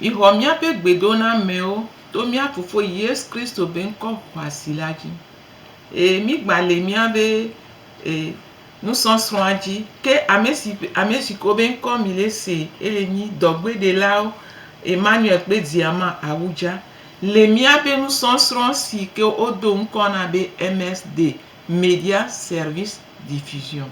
Mixɔ míaƒe gbedonamɛwo to mía Fofo Yesu Kristo be ŋkɔ xɔasi la dzi. Ee, mígbã le míabe e, nusɔsrɔ̃a dzi. Ke ame si, ame si ko be ŋkɔ mi le se ele nyi dɔgbeɖelawo Emmanuel kple Diama Awudza le míaƒe nusɔsrɔ̃ si ke wodo ŋkɔ na be MS de Media Service Diffusion.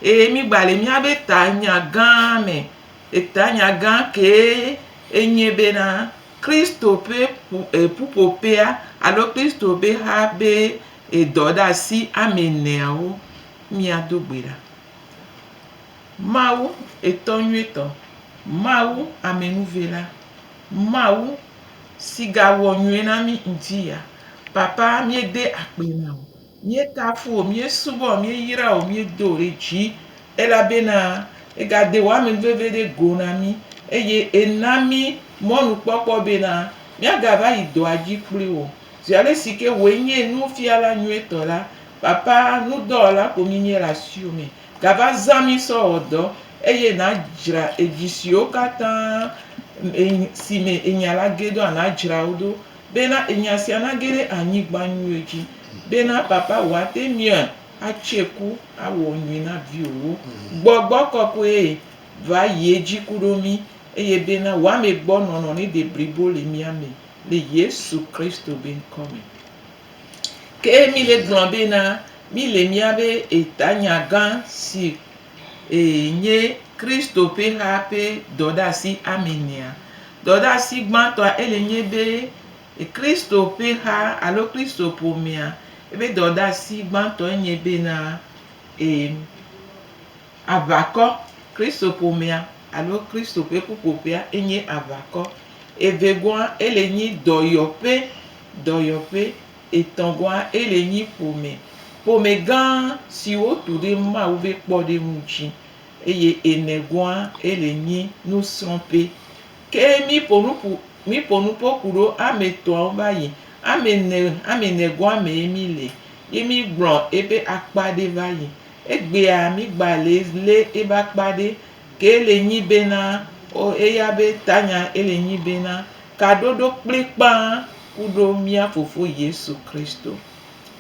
Ee, mígbã le míabe tanya gã me Etanya gã kee enye bena Kristo ƒe ƒuƒoƒea alo Kristo ƒe ha ƒe dɔɖeasi ame eneawo míado gbe ɖa. Mawu, Etɔ Nyuitɔ, Mawu, Amenuvela, Mawu, si gawɔ nyui na mí ŋuti ya, Papa, míede akpe na wò. Míekafu wò, míesubɔ wò, míeyra wò, míedo wò ɖe dzi, elabena ègade wò ame veve ɖe go na mí, eye èna mí mɔnukpɔkpɔ bena míagava yi dɔa dzi kpli wò. Zi ale si ke wòe nye nufiala nyuitɔ la, papa nudɔwɔla ko míenye le asiwò me. Gava zã mí sɔ wɔ dɔ, eye nàdzra edzi siwo katã si me ènya la ge ɖoa, nàdzra wo ɖo. Bena enya sia nage ɖe anyigba nyuie dzi, bena papa wòate ŋui atse ku awɔ nyui na viwòwo. Gbɔgbɔ kɔkɔe va yi edzi ku ɖo mí, eye bena wòame gbɔ nɔnɔ nede blibo le mía me le Yesu Kristo be ŋkɔ me. Ke mí le gblɔ bena, mí le míabe etanya gã si Ee, nye Kristo ƒe haa ƒe dɔɖeasi amɛnea. Dɔɖeasi gbãtɔa ele nye be Kristo ƒe haa alo Kristo ƒomea, ebe dɔɖeasi gbãtɔe nye bena, ee, aʋakɔ. Kristo ƒomea alo Kristo ƒe ƒuƒoƒea enye aʋakɔ. Evegɔa ele nye dɔyɔƒe, dɔyɔƒe Etɔ̃gɔa, ele nyi ƒome, ƒome gã si wotu ɖe Mawu ƒe kpɔɖeŋu dzi, eye enegɔa, ele nyi nusrɔ̃ƒe. Ke míƒo nu ƒu, míƒo nu ƒo ku ɖo ame etɔ̃awo va yi. Ame ene, ame enegɔa mee míle ye mígblɔ eƒe akpa ɖe va yi. Egbea mígba le lé eƒe akpa ɖe. Ke ele nyi bena, O eya be tanya ele nyi bena, kaɖoɖo kplikpã kuɖo mía Fofo Yesu Kristo.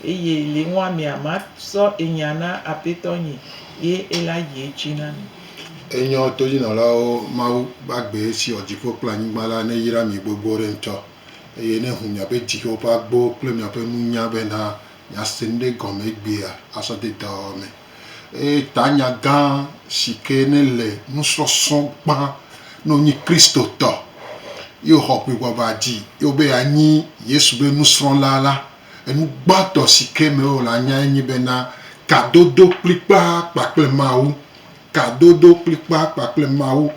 Eye le ŋua mea ma sɔ enya na Apetɔ nyi ye ela yi edzi na mi. Enyɔ todinɔlawo Mawu ƒe agbee siɔ dziƒo kple anyigba la neyra mi gbogbo ɖe ŋutɔ, eye nehu miaƒe dziwo ƒe agbowo kple miaƒe nunya bena miase nuɖe gɔme egbea asɔ de dɔwɔwɔ me. Eye tanya gã si ke ne le nusɔsɔ gbã ne wonyi Kristotɔ ye woxɔ ŋiŋɔŋa dzi ye wobe yeanyi Yesu be nusrɔ̃la la, enu gbãtɔ si ke me wole anyae nye bena kadodo kplikpaa kpakple Mawu. Kadodo kplikpaa kpakple Mawu.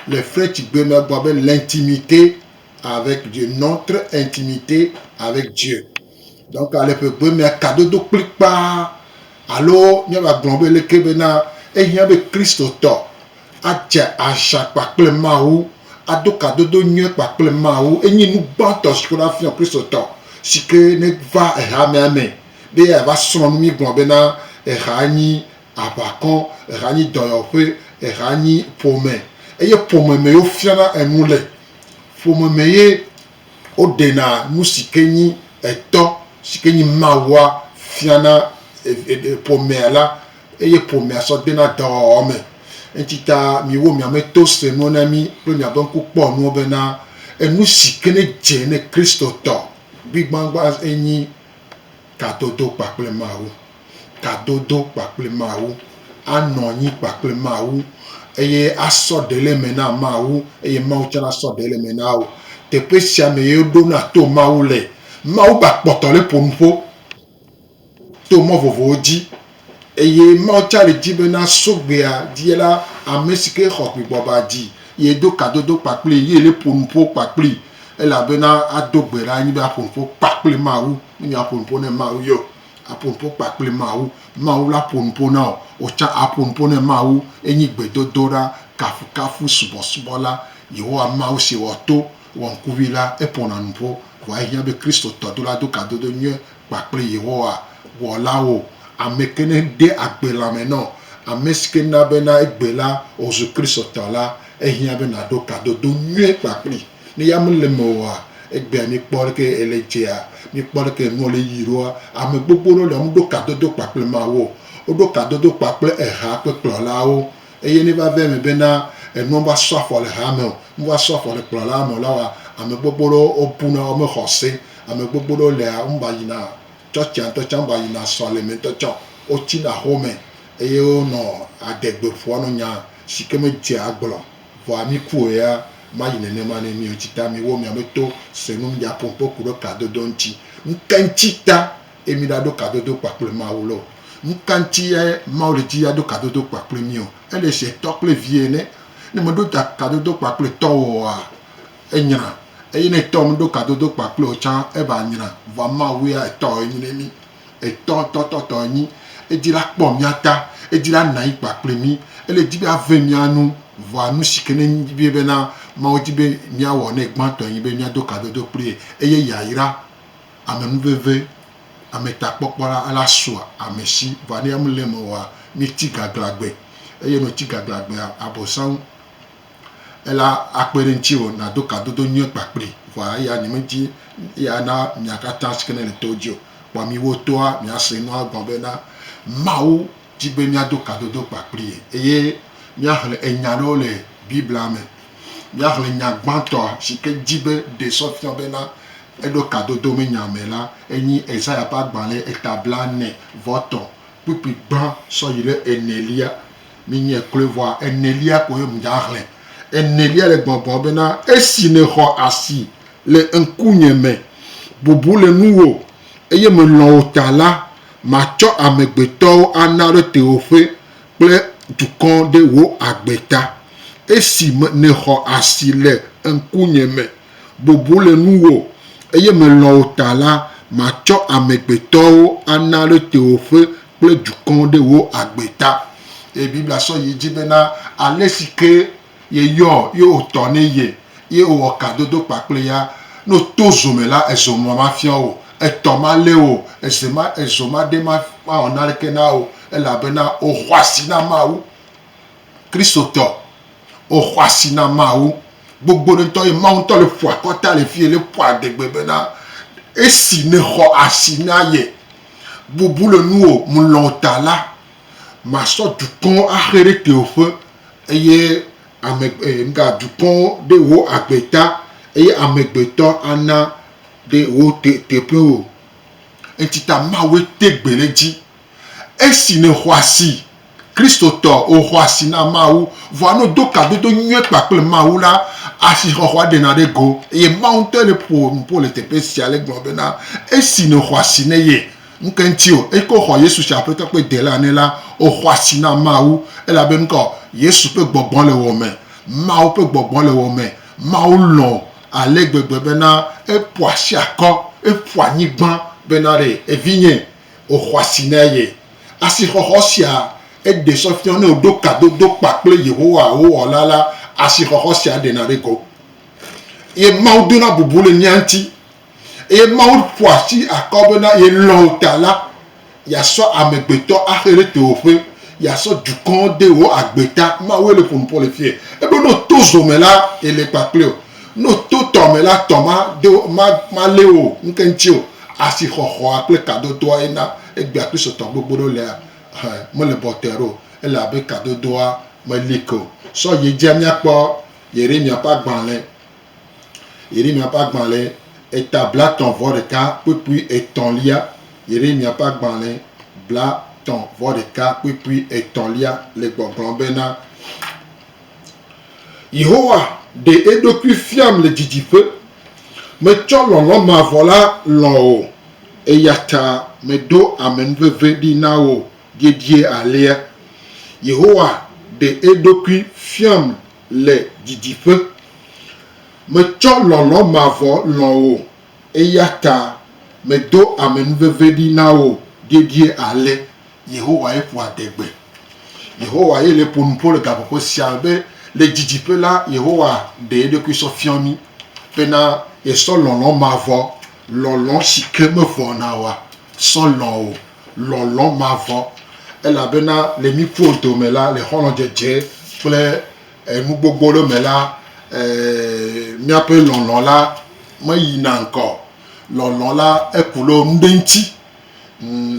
Le Frenchigbe me egblɔ be l'intimite avec Dieu non très intimité avec Dieu donc ale ƒe gbe mea kadodo kplikpaa alo míava gblɔ be leke bena ehiã be Kristotɔ adze aʒa kpakple Mawu ado kadodo nyuie kpakple Mawu enye nu gbãtɔ si ke wona fiɔ Kristotɔ si ke ne va ehamea me be yeava srɔ̃ nu mígblɔ bena eha nyi aʋakɔ eha nyi dɔyɔƒe eha nyi ƒome eye ƒome me yewo fiana enu le Ƒome me ye woɖena nu si ke nyi etɔ si ke nyi Mawua fiana ƒomea la eye ƒomea sɔ dena dɔwɔwɔ me. Eŋuti ta miwo mia me to se nuwo na mi kple miaƒe ŋku kpɔ nuwo bena enu si ke ne dze ne Kristotɔ gbigbãgbã enyi kadodo kpakple Mawu. Kadodo kpakple Mawu. Anɔ anyi kpakple Mawu eye asɔ ɖe le eme na Mawu eye Mawu tsɛ nasɔ ɖe le eme na wò. Teƒe sia me ye woɖona to Mawu le. Mawu ba kpɔtɔ le ƒo nu ƒo to mɔ vovovowo dzi Eye Mawu tsa le dzi be na so gbea dzi la, ame si ke xɔ gbegbɔ ba dzi, ye do kadodo kpakpli, ye le ƒo nuƒo kpakpli, elabena ado gbe ɖa nyi be aƒo nuƒo kpakpli Mawu. Menye aƒo nuƒo ne Mawu ye o, aƒo nuƒo kpakpli Mawu. Mawu la ƒo nuƒo na wò, wò tsã aƒo nuƒo ne Mawu. Enyi gbedodoɖa, kafukafu, subɔsubɔ la. Yehowa Mawu si wɔ to, wɔ ŋkuvi la, eƒona nuƒo. Vɔa ehiã be Kristotɔ dola do kadodo nyuie kpakple Yehowa Wɔlawo. Ame ke ne de agbe lãme nɔ ame si ke na bena egbe la wòzu Kristotɔ la, ehiã be nàɖo kadodo nyuie kpakplii. Ne ya mele eme oa, egbea míkpɔ leke ele edzea, míkpɔ leke enua le yiyim ɖoa. Ame gbogbo ɖewo lia, womeɖo kadodo kpakple Mawu o. Woɖo kadodo kpakple eha ƒe kplɔlawo. Eye ne va ve eme bena enuɔ va sɔ afɔ le hame o, nu va sɔ afɔ le kplɔlaa me o la wa ame gbogbo ɖewo wo buna wo me xɔ se. Ame gbogbo ɖewo lea wo me va yina tsɔtsia ŋtɔ tsã, wo me va yina sɔleme ŋtɔ tsã o. Wo tsina xome eye wo nɔ ade gbe ƒoa nɔ nya si ke me dze agblɔ o. Vɔa mi kue ya ma yi nenema ne mi o. Tsi ta mi wo mia me to se nu mi dza ƒo ŋƒe ku ɖe kadodo ŋtsi. Nuka ŋtsi ta? Eye mi ɖa ɖo kadodo kpakple Mawu loo. Nukanti ye Mawu le dzi aɖo kadodo kpakple mí o? Ele se tɔ kple vi ene. Ne me ɖo da kadodo kpakple tɔ wò oa, enyra. Eye ne tɔ me ɖo kadodo kpakple wò tsã eva nyra. Vɔa Mawu ya etɔ ye nyi ne mí. Etɔ ŋutɔ tɔ tɔ ye nyi. Edi la kpɔ mía ta. Edi la na anyi kpakple mí. Ele di be ave mía nu. Vɔa nu si ke ne nyi be na Mawu di be mía wɔ ne gbãtɔ ye nyi be mía do kadodo kpli ye. Eye yayra. Amenuveve, ametakpɔkpɔ la la sua amesi vɔ anɛ amu le eme oa, mi ti gaglagbe. Eye ne woti gaglagbea, abosam ela akpe ɖe ŋtsiwò nado kadodo nyuie kpakpli vɔ eya nye medi eya na mia katã sike ne le towo dzi o. Kpɔ miwo toa mia se nua gɔme be na Mawu di be míado kadodo kpakplii eye míaxlẽ enya aɖewo le Biblia me. Míaxlẽ nya gbãtɔa si ke di be ɖe sɔ fia bena eɖo kadodo me nya me la, enye Esaya ƒe agbalẽ eta blaene vɔ etɔ̃ kpukpui gbã sɔ yi ɖe enelia. Menyae kloe vɔa, enelia koe mìaxlẽ. Enelia le gbɔgblɔm bena, Esi nèxɔ asi le ŋkunye me, bubu le nuwò, eye melɔ̃ wò ta la, Matsɔ amegbetɔwo ana ɖe tewòƒe kple dukɔ ɖe wò agbe ta. Esi nèxɔ asi le ŋkunye me, bobo le nuwò, eye melɔ̃ wò ta la, matsɔ amegbetɔwo ana ɖe tewòƒe kple dukɔ ɖe wò agbe ta. Eye Biblia sɔ yi edzi bena, Ale si ke Yeyɔ ye wòtɔ ne ye, ye wòwɔ kadodo kpakple ya. Ne wòto zo me la, ezo mɔ mafiã wò o, etɔ malé wò o, eze ma, ezo maɖe ma, mawɔ naneke na wò o, elabena wòxɔ asi na Mawu. Kristotɔ, wòxɔ asi na Mawu. Gbogbo ɖe ŋutɔ ye Mawu ŋutɔ le ƒo akɔta le fi le ƒo adegbe bena, esi nèxɔ asi na ye, bubu le nuwò, mlɔ ta la, masɔ dukɔwo axe ɖe tewòƒe. Eye ame, e, nuka, dukɔwo ɖe wò agbe ta, eye amegbetɔ ana ɖe wò te, teƒewo. Eŋti ta Mawue te gbe ɖe edzi. Esi nèxɔ asi, Kristotɔ, wòxɔ asi na Mawu, vɔa ne wòdo kadodo nyuie kpakple Mawu la, asixɔxɔa ɖena ɖe ego. Eye Mawu ŋutɔe ɖe ƒo nuƒo le teƒe sia le gblɔm bena, Esi nèxɔ asi ne ye, Nuke ŋti o? Eyike wo xɔ Yesu tsi Aƒetɔ kple Delã nɛ la, wo xɔ asi na Mawu. Elabe nukɔ? Yesu ƒe gbɔgbɔ le wò me. Mawu ƒe gbɔgbɔ le wò me. Mawu lɔ̃ wò ale gbegbe bena eƒo asi akɔ, eƒo anyigba bena ɖe evinye, wò xɔ asi na eye. Asi xɔxɔ sia eɖe sɔ fiɔ ne woɖo kadodo kpa kple Yehowa wò Wɔla la, asi xɔxɔ sia ɖena ɖe go. Ye Mawu dona bubu le mía ŋti. Eye Mawu ƒo asi akɔ be na yelɔ̃ wò ta la, yeasɔ amegbetɔ axe ɖe tewò ƒe, yeasɔ dukɔ de wò agbe ta. Mawue le ƒo nu ƒo le fiye. Ebe ne wòto zo me la, yele kpakple wò. Ne wòto tɔ me la, tɔ ma do, ma, malé wò ŋke ŋuti o. Asi xɔxɔa kple kadodoa ye na egbea Kristotɔ gbogbo ɖewo lea hã mele bɔtɛɛ ɖo. Ele abe kadodoa meli ke o. Sɔ yi edzia míakpɔ Yeremiya ƒe agbalẽ Yeremia ƒe agbalẽ eta blatɔ̃ vɔ ɖeka kpukpui etɔ̃lia Yeremia ƒe agbalẽ blatɔ̃ vɔ ɖeka kpukpui etɔ̃lia le gbɔgblɔm bena, Yehowa ɖe eɖokui fiam le didiƒe, metsɔ lɔlɔ̃ mavɔ la lɔ̃ wò, eya ta meɖo amenuveve ɖi na wò dedie alea. Yehowa ɖe eɖokui fiam le didiƒe. Metsɔ lɔlɔ̃ mavɔ lɔ̃ wò, eya ta medo amenuveve ɖi na wò dedie ale. Yehowae ƒo adegbe. Yehowa ye le ƒo nu ƒo le gaƒoƒo sia me be le didiƒe la, Yehowa ɖe eɖokui sɔ fiɔ mí bena yesɔ lɔlɔ̃ mavɔ, lɔlɔ̃ si ke mevɔna o asɔ lɔ̃ wò. lɔlɔ̃ mavɔ, elabena le mí ƒuwo dome la, le xɔlɔ̃dzedze kple nu gbogbo ɖewo me la, míaƒe lɔlɔ̃ la meyina ŋkɔ o. Lɔlɔ̃ la eku ɖe nu ɖe ŋuti.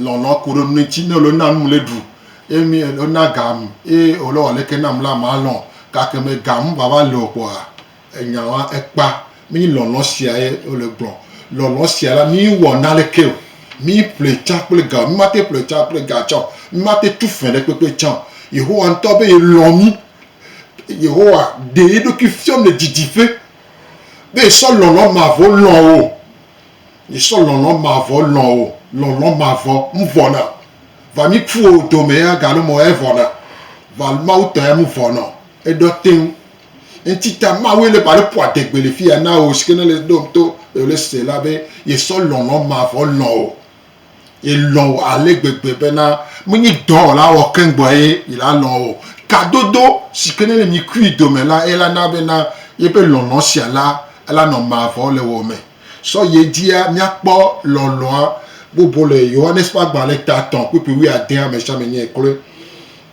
Lɔlɔ̃ ku ɖe nu ɖe ŋuti. Ne wòle nu na num le ɖu ye mi wòle nu na gam ye wòle wɔ leke nam la, malɔ̃. Gake me gam vava le o kpɔa. Enya wa ekpa mi lɔlɔ sia ye wole gblɔ. Lɔlɔ sia la mi wɔ naleke o. Mi ƒle tsa kple ga o. Mi mate ƒle tsa kple ga tsa o. Mi mate tu fẽ ɖe kpekpe tsa o. Yehowa ŋutɔ be ye lɔ mi. Yehowa ɖe yeɖokui fiɔ mi le didiƒe be ye sɔ lɔlɔ mavɔ lɔ wo. Ye sɔ lɔlɔ mavɔ lɔ wo. Lɔlɔ mavɔ mu vɔ na o. Va mi ku wo dome ya galo mɔ ya vɔ na. Va Mawu tɔ ya mu vɔ na o. Eɖɔ teŋ. Eŋti ta Mawue le ba ɖe ƒo adegbe le fiya na wò si ke ne le ɖom to eo le se la be yesɔ lɔlɔ̃ mavɔ lɔ̃ wò. Ye lɔ̃ wò ale gbegbe bena menye dɔ wòla wɔ keŋ gbɔ ye yela lɔ̃ wò. Kadodo si ke ne le mi kui dome la ela na bena yeƒe lɔlɔ̃ sia la ela nɔ mavɔ le wò me. Sɔ ye dzia míakpɔ lɔlɔ̃a bubu le Yohanes ƒe agbalẽ ta tɔ̃ kpukpui wuiadea me sia me nyɔe kloe.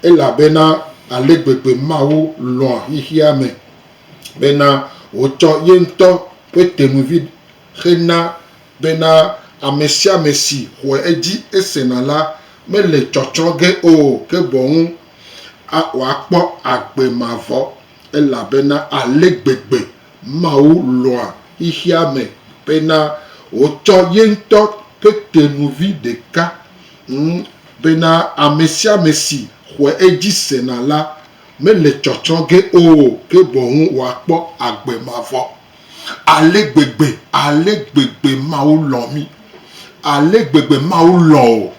Elabena ale gbegbe Mawu lɔ̃a xexea me, bena wòtsɔ ye ŋutɔ ƒe tenuvi xe na bena ame sia ame si xɔe edzi hesena la mele tsɔtsrɔ̃ ge o, ke boŋ wòakpɔ agbe mavɔ. Elabena ale gbegbe Mawu lɔ̃a xexea me, bena wòtsɔ ye ŋutɔ ƒe tenuvi ɖeka ŋu Bena ame sia ame si xɔe edzi sena la mele tsɔtsɔ ge o, ke boŋ wòakpɔ agbe mavɔ. Ale gbegbe, ale gbegbe Mawu lɔ̃ mí! Ale gbegbe Mawu lɔ̃ wò!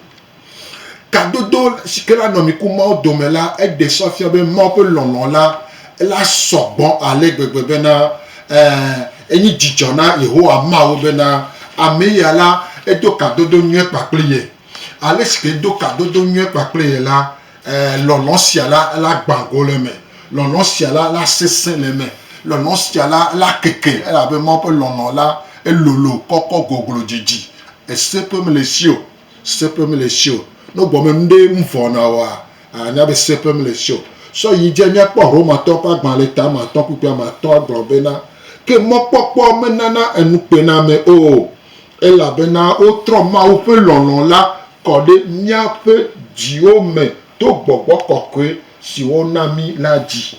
Kadodo si ke la nɔ mi ku Mawu dome la, eɖe sɔ fia be Mawu ƒe lɔlɔ̃ la, la sɔ gbɔ ale gbegbe bena, ɛ̃, enye dzidzɔ na Yehowa Mawu bena ame ya la, edo kadodo nyuie kpakple ye. Ale si ke do kadodo nyuie kpakple ye la, ɛɛ, lɔlɔ̃ sia la, ela gbã go le eme. Lɔlɔ̃ sia la, ela sesẽ le eme. Lɔlɔ̃ sia la, ela keke elabe Mawu ƒe lɔlɔ̃ la, elolo kɔkɔ goglo didi. Eseƒe mele esi o. Seƒe mele esi o. Ne wogɔme nu ɖe ŋu vɔ na woa, ànya be seƒe mele esi o. Sɔ yi dzi míakpɔ Romatɔwo ƒe agbalẽ etame atɔ̃ kpukpui ame atɔ̃ agblɔ bena, Ke mɔkpɔkpɔ menana enukpenamewo o. Elabena wotrɔ Mawu ƒe lɔlɔ̃ la kɔ ɖe míaƒe dziwo me to gbɔgbɔ kɔkɔe si wona mí la dzi.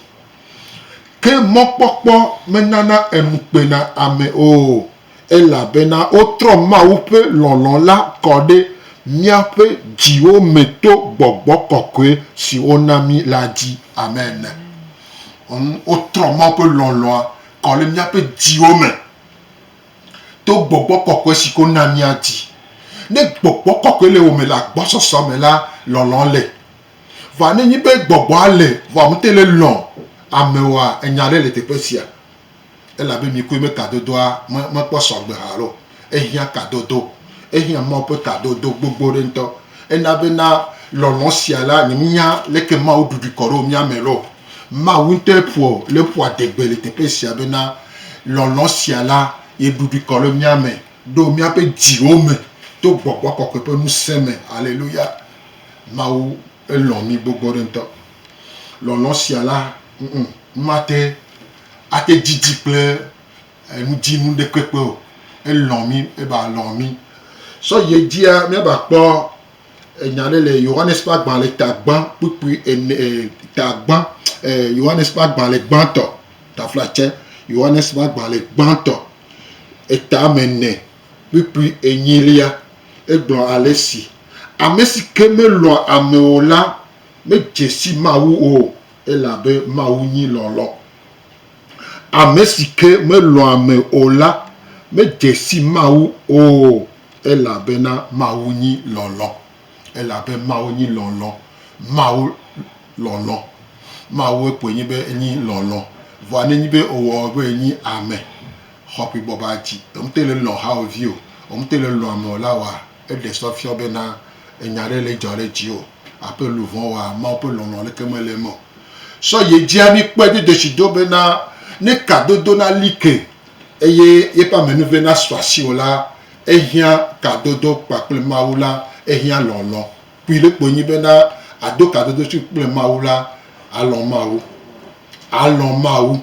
Ke mɔkpɔkpɔ menana enu kpena ame o, elabena wotrɔ Mawu ƒe lɔlɔ̃ la kɔ ɖe míaƒe dziwo me to gbɔgbɔ kɔkɔe si wona mí la dzi. Amen. Wotrɔ Mawu ƒe lɔlɔ̃a kɔ ɖe míaƒe dziwo me To gbɔgbɔ kɔkɔe si ko na míadi. Ne gbɔgbɔ kɔkɔe le wò me le agbɔsɔsɔ me la, lɔlɔ̃ le. Vɔ ne enye be gbɔgbɔa le, vɔ àmete le lɔ̃ ame oa, enya aɖe le teƒe sia. Elabe mikpɔe be kadodoa mekpɔ sɔgbe hã alo ehiã kadodo. Ehiã Mawu ƒe kadodo gbogbo ɖe ŋutɔ. Ena bena lɔlɔ̃ sia la, nyemenya leke Mawu ɖuɖui kɔ ɖo mía me loo. Mawu ŋutɔe ƒo le ƒua degbe le teƒe sia bena lɔlɔ̃ sia la ye ɖuɖui kɔ ɖe mía me, ɖo míaƒe dziwo me to Gbɔgbɔ Kɔkɔe ƒe ŋusẽ me. Haleluya! Mawu elɔ̃ mí gbogbo ɖe ŋutɔ. Lɔlɔ̃ sia la ŋu mate ate didi kple enudzinu ɖekpekpe o. Elɔ̃ mí eba lɔ̃ mí. Sɔ yi edzia míava kpɔ Enya aɖe le Yohanes ƒe agbalẽ tagbã kpukpui ene, tagbã, Yohanes ƒe agbalẽ gbãtɔ, taflatse, Yohanes ƒe agbalẽ gbãtɔ, etame ene kpukpui enyilia, egblɔ ale si, Ame si ke melɔ̃a ame o la medze si Mawu o, elabe Mawu nyi lɔlɔ̃. Ame si ke melɔ̃a ame o la medze si Mawu o, elabena Mawu nyi lɔlɔ̃. Elabe Mawu nyi lɔlɔ̃. Mawu lɔlɔ̃. Mawue koe nye be enyi lɔlɔ̃. Vɔa ne enyi be ewɔ be enyi ame xɔaƒe bɔbɔa dzi, ŋutɔ le lɔ̃ hawòvi o, ŋutɔ le lɔ̃ ame o la wɔa? Eɖe sɔ fiɔ be na enya ɖe le dzɔ ɖe dzi o. Aƒe luvɔn wa Mawu ƒe lɔlɔ leke me le eme o. Sɔ ye dzia mi kpɔe do desi do be na ne ka dodo na li ke eye yeƒe amenuve na sɔ asi o la, ehiã ka dodo kpakple Mawu la ehiã lɔlɔ. Kpui ɖe kpoe nyi be na ado ka dodo si kple Mawu la, alɔ Mawu. Alɔ Mawu.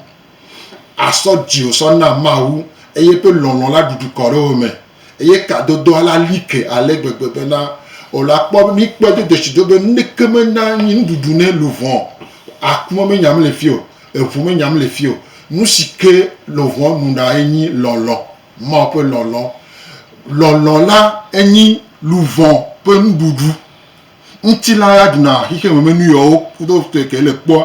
Asɔ dziwò sɔ na Mawu, eye eƒe lɔlɔ̃ la ɖuɖu kɔ ɖe wò me, eye kadodoa la li ke ale gbegbe bena wò la kpɔ be mi kpɔe do dzesi do be nuɖeke mena anyi nuɖuɖu ne luʋɔ o, aku me menya mele fi o, eŋu menya mele fi o. Nusi ke luʋɔ nuna ye nyi lɔlɔ̃, Mawu ƒe lɔlɔ̃. Lɔlɔ̃ la enyi luʋɔ ƒe nuɖuɖu. Ŋutilã ya ɖuna xexememenui yawo kutokutue ke le kpɔa,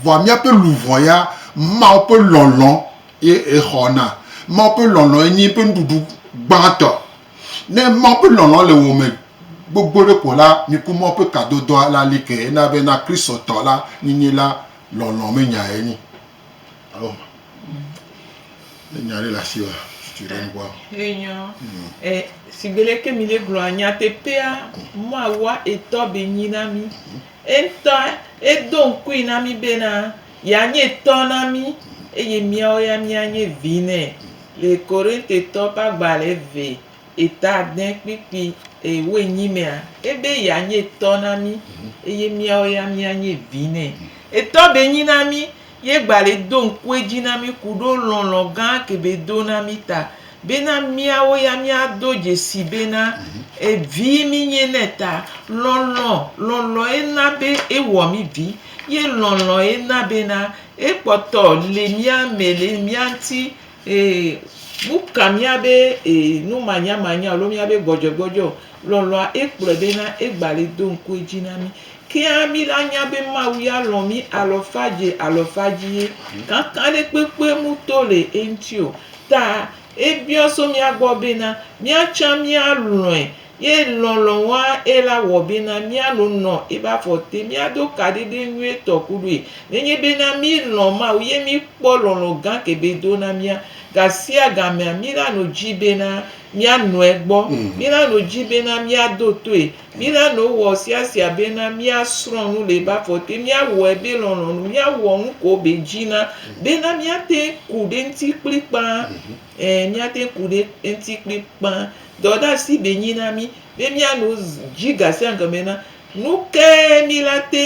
vɔa míaƒe luʋɔ ya, Mawu ƒe lɔlɔ̃ ye exɔna. Mawu ƒe lɔlɔ̃ ye nye eƒe nuɖuɖu gbãtɔ. Ne Mawu ƒe lɔlɔ̃ le wò me gbogbo ɖe ko la, miku Mawu ƒe kadodɔa la li ke hena be na Kristotɔ la, nyinyi la, lɔlɔ̃ menyae nyi. Alo ne nya ɖe le asi wa tutu ɖe ŋkua. Enyɔ. E sigbele ke mi ɖe gblɔa nyateƒea mɔawua etɔ be nyi na mi. Entɔ edo ŋkui na mi be na ya nye tɔ na mi eye miawo ya mia nye vi nɛ. Le Korintetɔ ƒe agba le ve. Eta dẽ kpikpi, e, woe nyi mea, ebe ya nye tɔ na mí, eye míawo ya mía nye vi nɛ. Etɔ be nyi na mí, ye gba le do ŋku edzi na mí ku ɖo lɔlɔ̃ gã ke be do na mí ta, be na míawo ya mía do dzesi be na e vi mí nye nɛ ta. Lɔlɔ̃, lɔlɔ̃ ye na be e wɔ mí vi, ye lɔlɔ̃ ye na be na e kpɔtɔ le mía me, le mía ŋuti. Ee, nuka míabe ee numanyamanya alo míabe gbɔdzɔgbɔdzɔ lɔlɔ̃a ekplɔe bena egbali do ŋku edzi na mí? Kea mí la nya be Mawu ya lɔ̃ mí alɔfadze alɔfadzi ye kakaɖekpekpe mu to le eŋuti o. Ta ebiɔ so mía gbɔ bena míatsã míalɔ̃e Ye lɔlɔ̃ wa eye la wɔ be na mía lo nɔ ebe afɔ te. Mía do kaɖiɖe nyuie tɔ ku ɖoe. Ne nye be na mí lɔ̃ Mawu ye mí kpɔ lɔlɔ̃ gã ke be do na mía. Ga sia ga mea, mí la no dzi be na mía nɔe gbɔ. Mí la no dzi be na mía do toe. Mí la no wɔ sia sia be na mía srɔ̃ nu le ebe afɔ te. Mía wɔe be lɔlɔ̃ nu. Mía wɔ nuko be dzi na be na mía te ku ɖe ŋuti kplikpaa. míate ŋu ku ɖe eŋuti kplikpaa. Dɔdeasi be nyi na mí be míano dzi gasiagame bena, nu kae míla te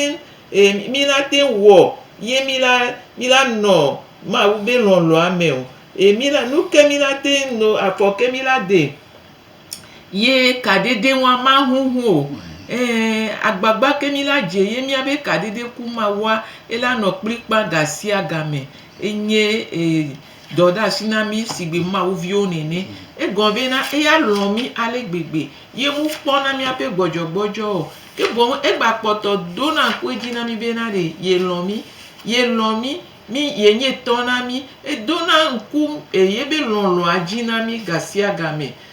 ŋu, míla te ŋu wɔ ye míla, míla nɔ Mawu be lɔlɔ̃a me o. Ye míla, nu ka míla te ŋu no, afɔ ka míla de ye kaɖiɖi ŋu maŋuŋu o. Ɛɛ, agbagba ka míla dze ye míabe kaɖiɖi ku mawua, ela nɔ kplikpaa gasiagame. Enye Dɔdeasi na mí sigbe Mawu viwo nene. Egɔ vɛ na eya lɔ̃ mí ale gbegbe. Ye ŋu kpɔ na míaƒe gbɔdzɔgbɔdzɔ o, ke boŋ egba kpɔtɔ dona ŋku edzi na mí bena ɖe ye lɔ̃ mí. Ye lɔ̃ mí, mí, ye nye tɔ na mí. Edona ŋku yebe lɔlɔ̃a dzi na mí gasiagamɛ.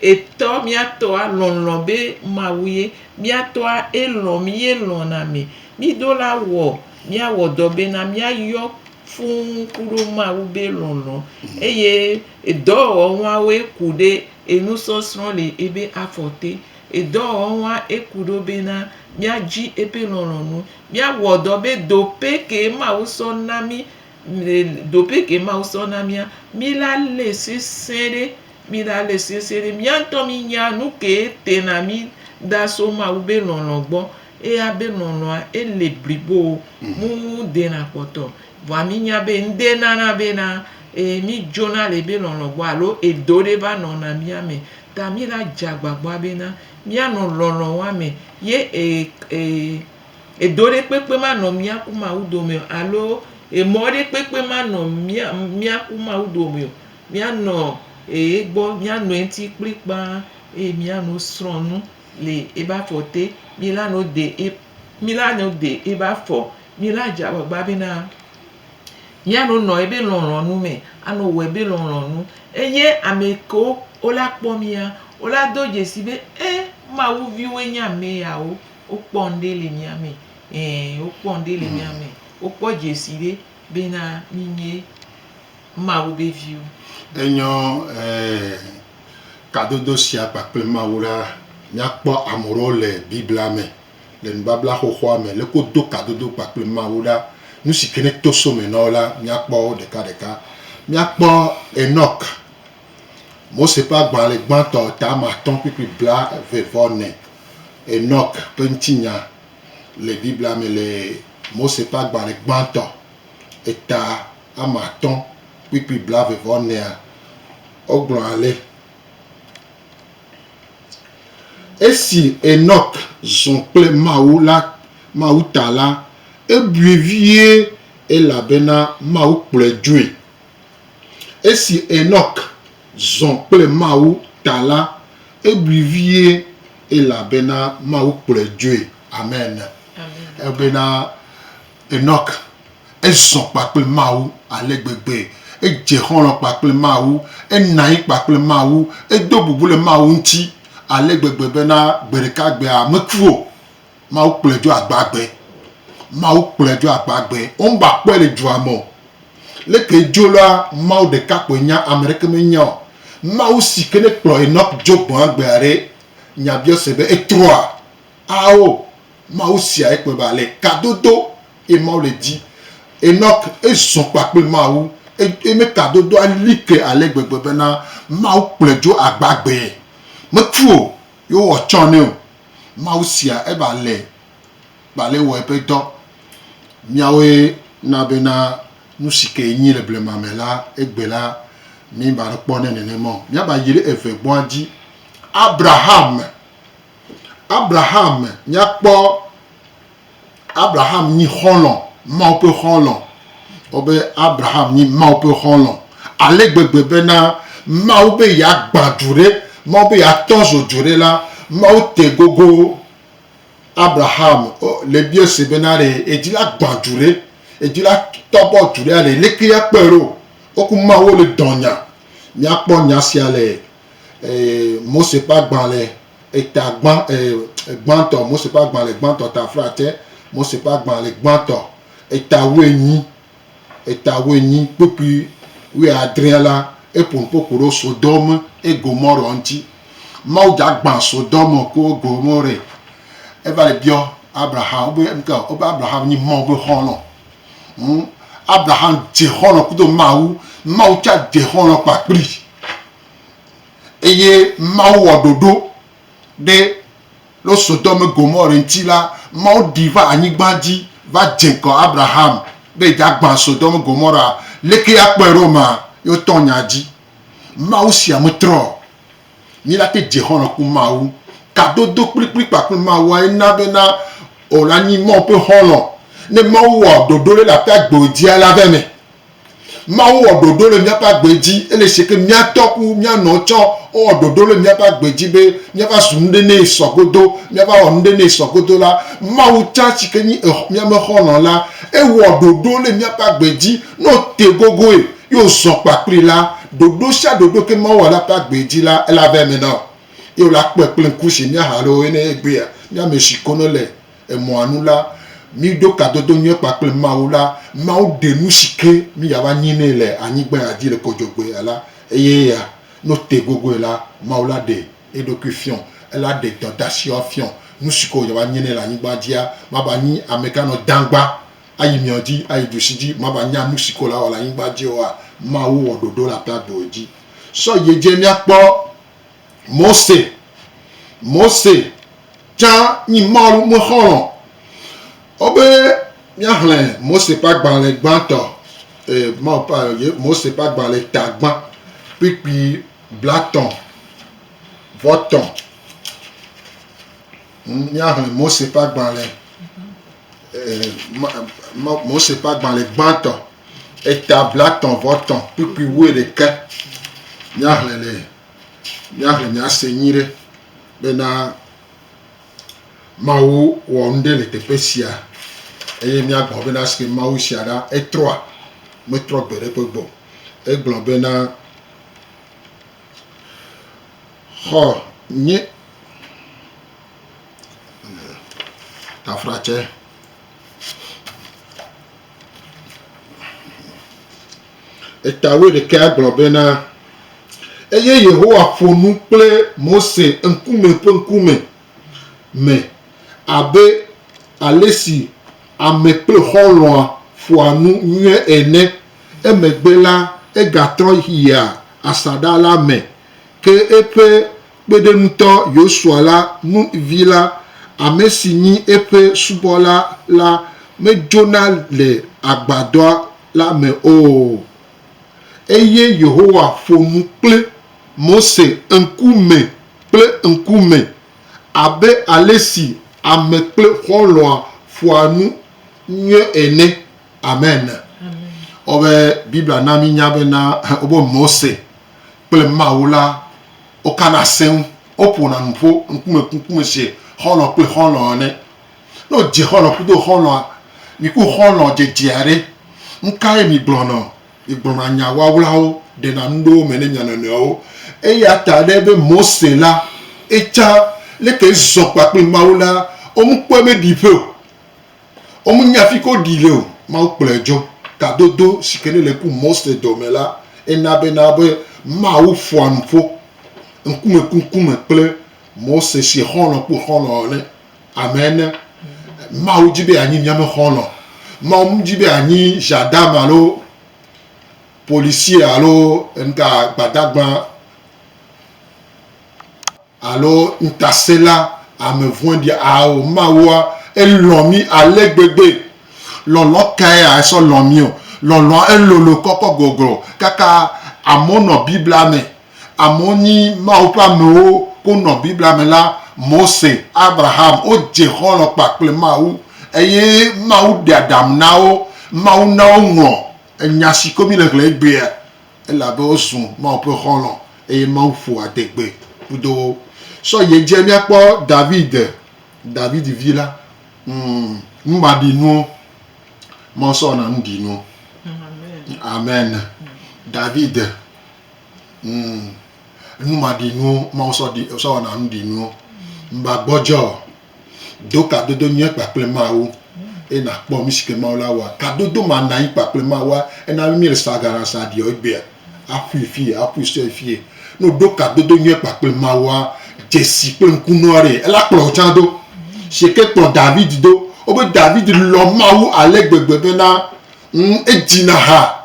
Etɔ mía tɔa lɔlɔ̃ be Mawu ye. Mía tɔa elɔ̃ mí ye lɔ̃na mi. Mí do la wɔ mía wɔ dɔ be na mía yɔ fũu kuɖo Mawu be lɔlɔ̃. Eye edɔ wɔwɔ ŋua woe ku ɖe enu sɔsrɔ̃ le ebe afɔ te. Edɔ wɔwɔ ŋua eku ɖo be na mía dzi ebe lɔlɔ̃ nu. Mía wɔ dɔ be do pe ke Mawu sɔ na mí, do pe ke Mawu sɔ na mía, mí la le sesẽ ɖe. Mìɖale sese ɖe mía ŋutɔ mínya nu kee tena mí da so Mawu be lɔlɔ̃ gbɔ. Eya be lɔlɔ̃a ele blibo o, mu dena kpɔtɔ o. Vɔa mínya be ŋɖe nana bena e mídzona le ebe lɔlɔ̃ gbɔ alo edo ɖe va nɔna mía me. Ta míla dze agbagba bena míanɔ lɔlɔ̃a me ye e e edo ɖe kpekpe manɔ mía ku Mawu dome o alo emɔ ɖe kpekpe manɔ mía mía ku Mawu dome o. Míanɔ eye gbɔ, míano eŋti kplikpaa eye míano srɔ̃ nu le ebe afɔ te. Mílano de e, mílano de ebe afɔ. Míla dze agbagba bena míano nɔ ebe lɔlɔ̃nu me, ano wɔ ebe lɔlɔ̃nu. Eye amekewo wola kpɔ mía, wola do dzesi be, E, Mawu viwoe nye ameyawo. Wokpɔ ŋɖe le mía me. Ɛ̃, wokpɔ ŋɖe le mía me. Wokpɔ dzesi ɖe bena mí nye. Mawu be viwo. Enyɔ e kadodo sia kpakple Mawu ɖa. Míakpɔ ame ɖewo le Biblia me, le nubabla xoxoa me, leke wodo kadodo kpakple Mawu ɖa. Nu si ke ne to so me na wo la, míakpɔ wo ɖekaɖeka. Míakpɔ Enɔk, Mose ƒe agbalẽ gbãtɔ, tame atɔ̃ kpukpui blaeve vɔ ene. Enɔk ƒe ŋutinya le Biblia me le Mose ƒe agbalẽ gbãtɔ, eta ame atɔ̃ kpukpui blaeve vɔ enea, wogblɔ ale, Esi Enɔk zɔ kple Mawu la, Mawu ta la, ebui vie elabena Mawu kplɔe dzoe. Esi Enɔk zɔ kple Mawu ta la, ebui vie elabena Mawu kplɔe dzoe. Amen. Amen. Ebena Enɔk, Ezɔ kpakple Mawu ale gbegbe, edze xɔlɔ̃ kpakple Mawu, enɔ anyi kpakple Mawu, edo bubu le Mawu ŋuti ale gbegbe bena gbeɖekagbea meku o. Mawu kplɔe dzo agbagbe. Mawu kplɔe dzo agbagbe. Womgbakpɔe le dua me o. Leke edzo la, Mawu ɖeka koe nya, ame aɖeke menya o. Mawu si ke nekplɔ Enɔk dzo gbɔa gbea ɖe, nyabiɔse be etrɔa? Ao, Mawu sia ekpɔe be ale kadodo ye Mawu le di. Enɔk, ezɔ kpa kple Mawu, eye mekadodoa li ke ale gbegbe bena Mawu kplɔe dzo agbagbee. Meku o, ye wowɔ tsã nɛ o. Mawu sia ebe ale be ale wɔ eƒe dɔ. Míawoe na bena nusi ke yɛnyi le blema me la, egbe la, míeva ɖo kpɔ nɛ nenema o. Míava yi ɖe eve gbɔa dzi. Abraham. Abraham mìakpɔ Abraham nyi xɔlɔ̃, Mawu ƒe xɔlɔ̃. Kpɔ be Abraham nyi Mawu ƒe xɔlɔ̃ ale gbegbe bena Mawu be yeagbã du ɖe, Mawu be yeatɔ zo du ɖe la, Mawu te gogo Abraham le biɔ se bena ɖe yedi la gbã du ɖe, yedi la tɔ bɔ du ɖea ɖe leke akpɔe ɖo. Woku Mawu le dɔnya. Mìakpɔ nya sia le Mose ƒe agbalẽ eta gbã, gbãtɔ, Mose ƒe agbalẽ gbãtɔ ta fla te, Mose ƒe agbalẽ gbãtɔ eta wuienyi, eta wuienyi kpukpui wuiadrẽa la, eƒo nu ƒo ƒo ɖo Sodom kple Gomorɔ ŋuti. Mawu dza gbã Sodom kple Gomorɛ. Eva le biɔ Abraham be, ŋke, wobe Abraham nyi Mawu be xɔlɔ. Ŋu. Abraham dze xɔlɔ̃ kudo Mawu, Mawu tsã dze xɔlɔ̃ kpakpli, eye Mawu wɔ ɖoɖo ɖe lo Sodome Gomore ŋuti la, Mawu ɖi va anyigba dzi va dze ŋgɔ Abraham be yedza gbã Sodome Gomora. Leke akpɔe ɖo ma? Ye wotɔ nya dzi. Mawu sia metrɔ. Míate dze xɔlɔ̃ ku Mawu. Kadodo kplikpli kpakple Mawuae na bena ɔ la nyi Mawu ƒe xɔlɔ̃. Ne Mawu wɔ ɖoɖo ɖe le aƒe agbewo dzi alea be me. Mawu wɔ ɖoɖo le míaƒe agbe dzi ele shike míatɔ ku míanɔ tsɔ. Ewɔ ɖoɖo le míaƒe agbe dzi be míava zu nuɖe nɛ sɔ godo, míava wɔ nuɖe nɛ sɔ godo la. Mawu tsã shike nyi ex, míame xɔlɔ̃ la, ewɔ ɖoɖo le míaƒe agbe dzi. Ne wote gogoe. Ye wòzɔ̃ kpakplii la, ɖoɖo sia ɖoɖo ke Mawu wɔ la ƒe agbee dzi la, ela vɛ eme na wò. Ye wòla kpɔe kple ŋku si mía hã loo ene egbea, mí ame si konɔ le emɔa nu la, míɖo kadodo nyui kpakple Mawu la, Mawu ɖe nu si ke mí yeava nyi nɛ le anyigba ya dzi le kɔdzɔgbea la, eye ya, ne wotee gogoe la, Mawu la ɖe eɖokui fiɔ, ela ɖe dɔdasiawo fiɔ, nu si ke wòyava nyi nɛ le anyigba dzia, mava nyi ameka nɔ dãgba, ayi mia dzi, ayi du si dzi mava nya nu si ko la wɔ le anyigba dzi oa, Mawu wɔ ɖoɖo le aƒea gbe wòdzi. Sɔ yi edzi míakpɔ Mose. Mose tsã nyi Mawu me xɔlɔ̃. Wobe míaxlẽ Mose ƒe agbalẽ gbãtɔ, eh, Mawu ƒe, ye Mose ƒe agbalẽ ta gbã kpikpi blatɔ̃ vɔ tɔ̃. Míaxlẽ Mose ƒe agbalẽ, Mose ƒe agbalẽ gbãtɔ, eta blatɔ̃ vɔ tɔ̃ kpukpui wuiɖekɛ. Míaxlẽ le, míaxlẽ míase nyuiɖe bena Mawu wɔ nuɖe le teƒe sia eye míagblɔ bena esike Mawu sia ɖa etrɔa, metrɔ gbeɖe kpegbe o. Egblɔ bena. Xɔ nyui taflatse. Eta wuiɖekɛ agblɔ bena, Eye Yehowa ƒo nu kple Mose ŋkume kple ŋkume me abe ale si ame kple xɔlɔ̃a ƒoa nu nyuie ene. Emegbe la, egatrɔ yia asaɖa la me, ke eƒe kpeɖeŋutɔ Yosua la, Nun vi la, ame si nyi eƒe subɔla la, medzona le agbadɔa la me o. Eye Yehowa ƒo nu kple Mose ŋkume kple ŋkume, abe ale si ame kple xɔlɔ̃a ƒoa nu nyuie ene. Amen. Wobe Biblia na mi nya be na wobe Mose kple Mawu la wokana seŋ, woƒona nu ƒo ŋkume ŋkume se xɔlɔ kple xɔlɔ ene. Ne wodze xɔlɔ kudo xɔlɔa, mi ku xɔlɔ dzedze aɖe, nu kae mi gblɔnɔ? Mi gblɔna nya wawlawo, ɖena nu ɖe wo me ne mia nɔnɔewo. Eya ta ɖe be Mose la, etsã leke zɔ kpakple Mawu la, womkpɔe be ɖi ƒe o. Womu nya fi ko ɖi le o. Mawu kplɔe dzɔ. Tadodo si ke ne le ku Mose dɔ me la, ena be na be Mawu ƒoa nu ƒo ŋkume ku ŋkume kple Mose si xɔlɔ̃ ku xɔlɔ̃ ene. Amen ne. Mawu di be anyi mía me xɔlɔ̃. Mawu me di be anyi ʒandamu alo policier alo ŋka gbadagba. Alo ŋutasẽla, ame vɔ̃ɖi, ao, Mawua, elɔ̃ mí ale gbegbe! Lɔlɔ̃ kae esɔ lɔ̃ mí o? Lɔlɔ̃a elolo kɔkɔ goglo kaka amewo nɔ Biblia me. Amewo nyi Mawu ƒe amewo ko nɔ Biblia me la. Mose, Abraham, wodze xɔlɔ̃ kpa kple Mawu eye Mawu ɖe aɖaŋu na wo. Mawu na woŋlɔ Nya si ko míle ŋlɔe egbea. Elabe wozu Mawu ƒe xɔlɔ̃, eye Mawu ƒo adegbe kpdo wo. Sɔ yi edzi míakpɔ David, Davidi vi la, numaɖinuwo. Mawu sɔ wɔna nuɖinuwo. Amen. David, numaɖinuwo, Mawu sɔ wɔna nuɖinuwo. Mba gbɔdzɔ o. Do kadodo nyuie kpakple Mawu eye nàkpɔ nu si ke Mawu la wɔa. Kadodo ma nàyi kpakple Mawua, ena be míele sagaɖasaɖiɔ egbea, aƒui fie, aƒui sue fie. Ne wòɖo kadodo nyuie kpakple Mawua, dzesi kple ŋku nɔa ɖee, ela kplɔ wò tsã do. Si ke kplɔ David do, wobe David lɔ̃ Mawu ale gbegbe bena, ŋ, edzina ha.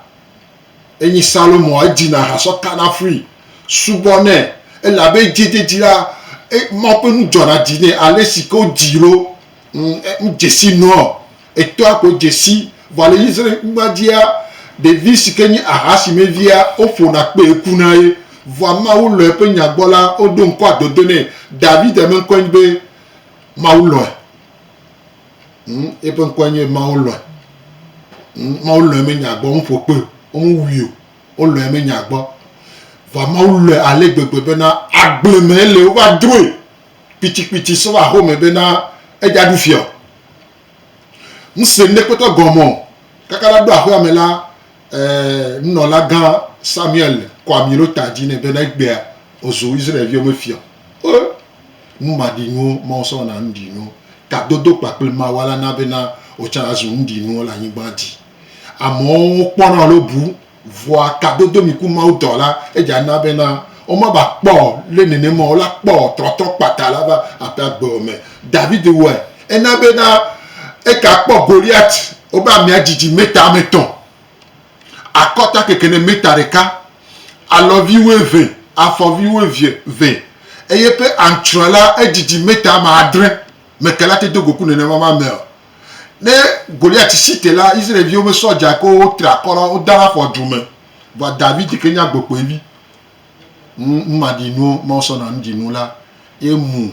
Enyi Salomo edi na ha sɔ kana fui, subɔ nɛ, elabe edzedzedzi la, e, Mawu ƒe nu dzɔna dzi nɛ ale si ke wodii ɖo. Ŋ, e, ŋ dzesi nua o. Etɔa koe dzesi. Vɔ le Israel-nyigba dzia, ɖevi si ke nye aha si me via, woƒona kpee kuna ye. Vɔa Mawu lɔ̃e eƒe nya gbɔ la, woɖo ŋkɔa dodo nɛ. David me ŋkɔe nye be Mawu lɔ̃e. Ŋ, eƒe ŋkɔe nye Mawu lɔ̃e. Ŋ, Mawu lɔ̃e menye agbɔ ŋu ƒo kpɔe o. Womewui o. Wolɔ̃e menye agbɔ. Vɔa Mawu lɔ̃e ale gbegbe bena agble me ele wova drɔe kpitikpiti sɔ va home bena edza ɖu fia o. Ŋse ŋɖe kpɔtɔ gɔme o. Kaka ɖa ɖo aƒea me la, e, nunɔlagã Samuel kɔ ami ɖo ta dzi nɛ bena egbea wòzu Israel viwo me fia. E! Nu maɖinuwo ma wosɔ na nuɖinu tadodo kpakple mawa la na bena wotsã azu nuɖinuwo le anyigba dzi. Amewo kpɔna alo bu vɔa tadodo mi ku Mawu dɔ la edze ana bena womava kpɔ o, le nenema o la kpɔ o trɔtrɔ kpata la va aƒe agbewo me. David wɔe, ena bena eka kpɔ Goliat wobe amea didi meta ame etɔ̃. Akɔta kekene mita ɖeka, alɔvi wuieve, afɔvi wuieve vɛ, eye eƒe antsrɔe la, edidi mita ame adre. Mekela te do go ku nenema ma me o. Ne Goliat si te la, Israel-viwo me sɔ dzae ko wotre akɔ la, woda la afɔ dzo me. Vɔa David ke nye agbekpoevi. Ŋ ma ɖi nuo Mawu sɔ na nu ɖi nu la, ye mu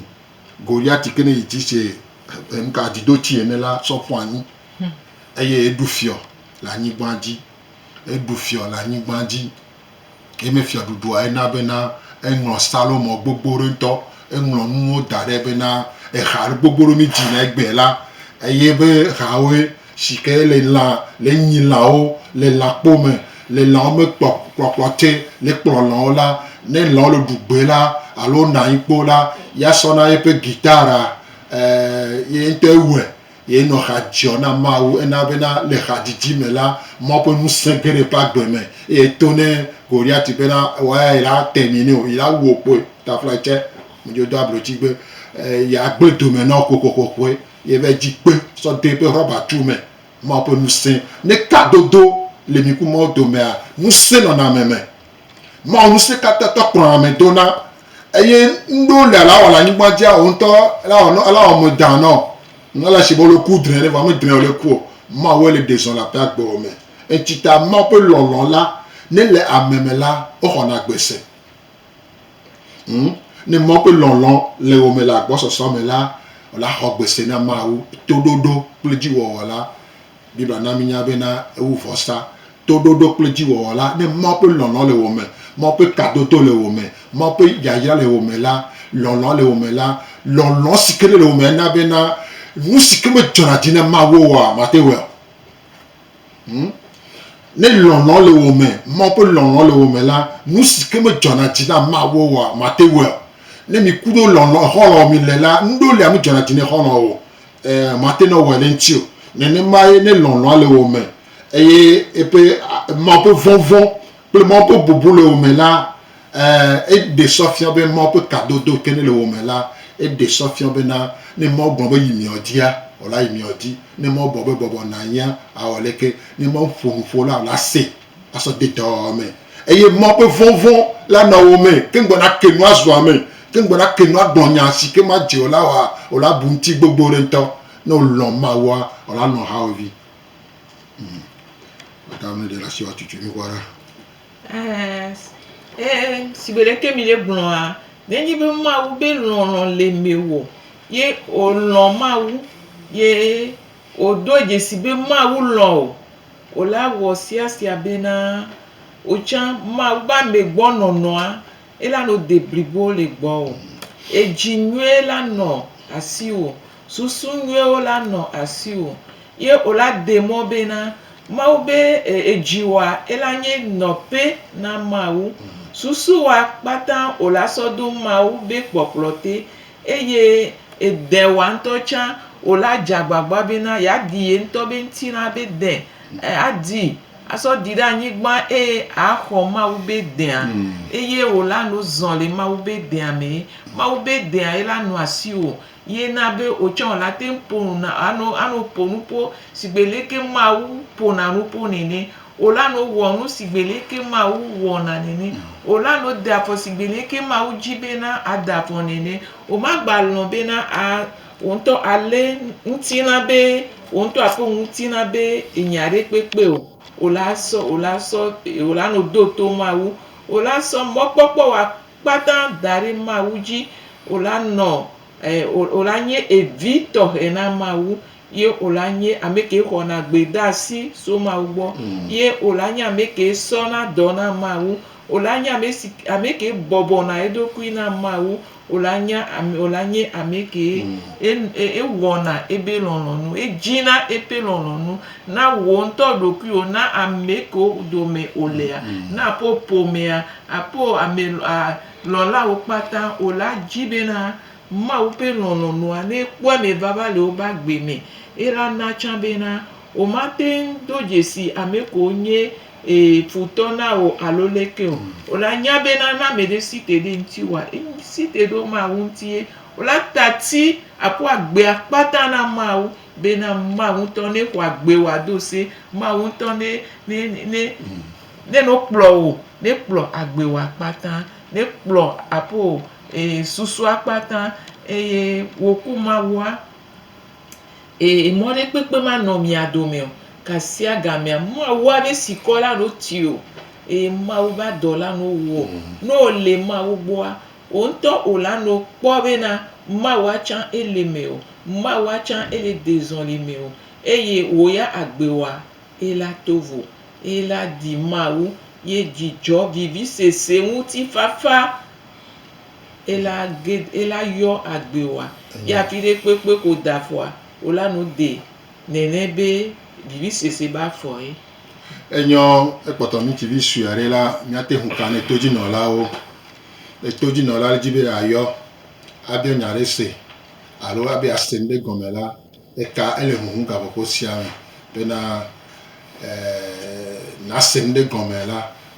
Goliat ke ne yi dzi se ŋka dzi do tsi ene la sɔ ƒu anyi. Eye eɖu fiɔ le anyigbã dzi, eɖu fiɔ le anyigbã dzi. Ye me fiɔɖuɖua ena bena eŋlɔ salomɔ gbogbo ɖe ŋutɔ. Eŋlɔ nuwo da ɖɛ bena eha ɖe gbogbo ɖe mi dzi na egbɛ la, eye be hawoe shike le lã, le nyi lãwo, le lãkpo me, le lãwo me kpɔ kplɔkplɔ tse le kplɔ lãwo la. Ne lãwo le ɖu gbe la alo wonɔ anyi kpo la, ya sɔna yeƒe guitare a, e, ye ŋutɔ ewɔɛ. Ye nɔ xa dziɔ na Mawu, ena bena le xadzidzi me la, Mawu ƒe ŋusẽ ge ɖe eƒe agbe me, eye eto ne Goliati bena woaya yi la te mi nɛ o, yi la wu wo kpoe. Taflae tsɛ me dzo do ablotsi gbe yi agbe dome nɔ xoxoxoxoe, ye va yi dzi kpe sɔ de eƒe rɔba tu me. Mawu ƒe ŋusẽ. Ne kadodo le mi ku Mawu domea, ŋusẽ nɔna ame me. Mawu Ŋusẽkatãtɔ kplɔa ame dona, eye nuɖewo le ale awɔ le anyigba dzi awɔ ŋutɔ, ele awɔ nɔ, ele awɔ ame dã nɔ. Ŋ ele shigbe wòle ku drɛ ɖe, vɔ ame drɛ wòle ku o. Mawue le ɖe zɔn le aƒe agbewo me. Eŋtsi ta Mawu ƒe lɔlɔ̃ la, ne ele ame me la, woxɔna agbe se. Ŋ, ne Mawu ƒe lɔlɔ̃ le wò me le agbɔsɔsɔ me la, wòla xɔ agbe se na Mawu. Toɖoɖo kple dziwɔwɔ la, Biblia na mínya be na ewu vɔsa, toɖoɖo kple dziwɔwɔ la, ne Mawu ƒe lɔlɔ̃ le wò me, Mawu ƒe kadodo le wò me, Mawu ƒe yayra le wò me la, lɔlɔ̃ le wò me la, lɔlɔ̃ si ke nele wò me na be na nu si ke medzɔna dzi na Mawu oa, màte wɔe o. Hm? Ne lɔlɔ̃ le wò me, Mawu ƒe lɔlɔ̃ le wò me la, nu si ke medzɔna dzi na Mawu oa, màte wɔe o. Ne mìku ɖo lɔlɔ̃, xɔlɔ̃ mile la, nuɖewo li amedzɔna dzi ne xɔlɔ̃ o. Ɛ̃, mate ŋu awɔe ɖe ŋuti o. Nenemae ne lɔlɔ̃a le wò me eye eƒe, Mawu ƒe vɔvɔ̃ kple Mawu ƒe bubu le wò me la, ɛ̃, eɖe sɔ fia be Mawu ƒe kadodo ke ne le wò me la, eɖe sɔ fia bena ne Mawu gblɔ be yi miɔdia, wòla yi miɔdi. Ne Mawu gblɔ be bɔbɔ nànyia, awɔ leke? Ne Mawu ƒo nu ƒo la, wòla see. asɔ de dɔa me, eye Mawu ƒe vɔvɔ̃ la nɔ wo me, ke ŋgbɔ nake nu azu ame, ke ŋgbɔ nake nu agblɔ nya si ke madze o la oa, o la bu ŋuti gbogbo ɖe ŋutɔ. Ne wolɔ̃ Mawua, o la lɔ̃ hawòvi. Mm. Maka ame ɖe le asi woatutu nu ʋua ɖa. Ɛɛ, sigbe ɖeke mi ɖe gblɔa, nenye be Mawu be lɔlɔ̃ le mewò, ye o lɔ̃ Mawu, ye o doa dzesi be Mawu lɔ̃ o, Wòle awɔ sia sia bena wò tsã Mawu be ame gbɔ nɔnɔa ela nɔ deblibo le gbɔwò. Edzi nyuie la nɔ asiwò, susu nyuiewo la nɔ asiwò. Ye wòla de mɔ bena Mawu be edziwòa ela nye nɔƒe na Mawu. Susuwòa kpata wòla sɔ do Mawu be kpɔkplɔ te. Eye de wòa ŋutɔ tsã wò la dze agbagba bena yeadi ye ŋutɔ be ŋutilã be de, adi asɔ ɖi ɖe anyigba eye axɔ Mawu be dea, eye wò la no zɔ le Mawu be dea mee. Mawu be dea ye la nɔ asiwò ye na be wò tsã wò la te ŋu ƒo nu na, ano, ano ƒo nuƒo sigbe leke Mawu ƒona nuƒo nene. O la no wɔ nu si gbelie ke Mawu wɔ na nene. O la no de afɔ si gbelie ke Mawu dzi be na ade afɔ nene. O ma gba lɔ̃ be na a wò ŋutɔ a lé ŋutilã be wò ŋutɔ a ƒe ŋutilã be enya ɖe kpekpe o. O la sɔ, o la sɔ, o la no do to Mawu. O la sɔ mɔkpɔkpɔ wa kpata da ɖe Mawu dzi. O la nɔ, e, o, o la nye evi tɔxɛ na Mawu. ye wòla nye ame ke xɔna gbedeasi so Mawu gbɔ, ye wòla nye ame ke sɔna dɔ na Mawu, wòla nye ame si ke, ame ke bɔbɔna eɖokui na Mawu, wòla nya, wòla nye ame ke e, e, ewɔna ebe lɔlɔ̃nu, edzina eƒe lɔlɔ̃nu na wò ŋutɔ ɖokuiwò, na ame kewo dome wòlea, na ƒo ƒomea, aƒo ame, a, lɔ̃lawo kpata, wòla dzi bena Mawu ƒe lɔlɔ̃nua, ne ekpɔe me vava le wobe agbe me, ela na tsã bena womate ŋu do dzesi ame ko wonye e futɔ na o alo leke o. Wola nya bena ne ame ɖe si te ɖe ŋutiwòa, esi te ɖo Mawu ŋutie. Wola ta ti aƒu agbe akpata na Mawu bena Mawu ŋutɔ ne xɔ agbe wòado se, Mawu ŋutɔ ne ne ne ne nokplɔ wo, ne kplɔ agbe wo akpata, ne kplɔ aƒo e susua kpata eye woku Mawua, e mɔɖekpekpe manɔ mia dome o. Kasia gamea, Mawua be sikɔ la ɖo ti o, eye Mawu be adɔ la no wɔ. No o le Mawu gbɔa, o ŋutɔ o la no kpɔ be na Mawua tsã ele me o, Mawua tsã ele dezɔli me o, eye wò ya agbe wa ela to vo. Ela di Mawu ye dzidzɔ vivisese ŋuti fafa Ela ge, ela yɔ agbe wa. Ye afi ɖe kpekpe ko da fɔa, wo la nu de nɛnɛ be vivi sese ba fɔ ye. Enyɔ ekpɔtɔ ŋutsuvi sue aɖe la, míate ŋu ka ne todzinɔlawo. Ne todzinɔla ɖe di be yeayɔ abiɔ nya aɖe se alo abe yease nu ɖe gɔme la, eka ele huhum gaƒoƒo sia me bena, e, nase nu ɖe gɔme la,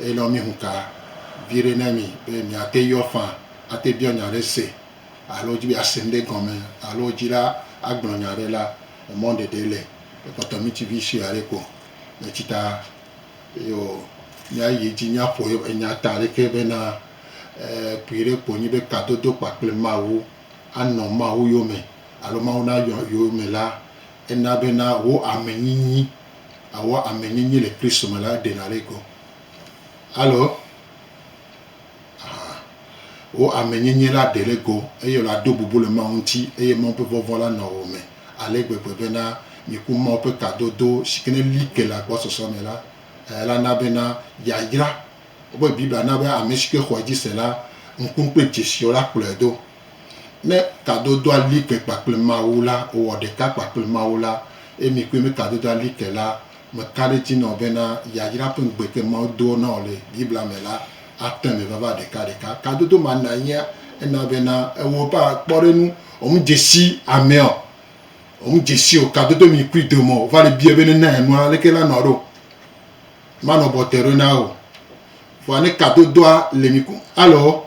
Eye nɔ mí hunka viɖe nɛ mí be mìate yɔ faa ate biɔ nya ɖe se alo dzi be yease ŋɖe gɔnme alo dzi la agblɔ nya ɖe la, emɔ ɖeɖe le. Ekpɔtɔ mí ci vi sue aɖe ko le ci ta ye o. Mía yi edzi mía ƒo ye enya ta ɖeke be na kpui ɖe ko nyi be kadodo kpakple Mawu anɔ Mawu yome alo Mawu nayɔ yome la, ena be na wo amenyinyi. awɔ ame nyinyi le Kristo me la ɖena ɖe go. Alo? Aha. Wò ame nyinyi la ɖe ɖe go eye wòle ado bubu le Mawu ŋuti eye Mawu ƒe vɔvɔ̃ la nɔ wò me ale gbegbe bena mìku Mawu ƒe kadodo si ke neli ke le agbɔsɔsɔ me la. Eya la na bena yayra. Wobe Biblia na be ame si ke xɔe dzi se la, ŋku kple dzesi o la kplɔe do. Ne kadodoa li ke kpakple Mawu la, wòwɔ ɖeka kpakple Mawu la, eye mi kple mi kadodoa li ke la, meka ɖe edzi na wò bena, yayra ƒe ŋugbe ke Mawu doa na wò le Biblia me la ate eme vava ɖekaɖeka. Kadodo ma nanyea ena bena ewɔ ƒe kpɔɖeŋu wò nudzesi ameɔ, wò nudzesi wò kadodo mi kpli dome o va le biae bene, ne enua, aleke la nɔ ɖo? Manɔ bɔte ɖo na wò o. Vɔa ne kadodoa le mi ku, alo?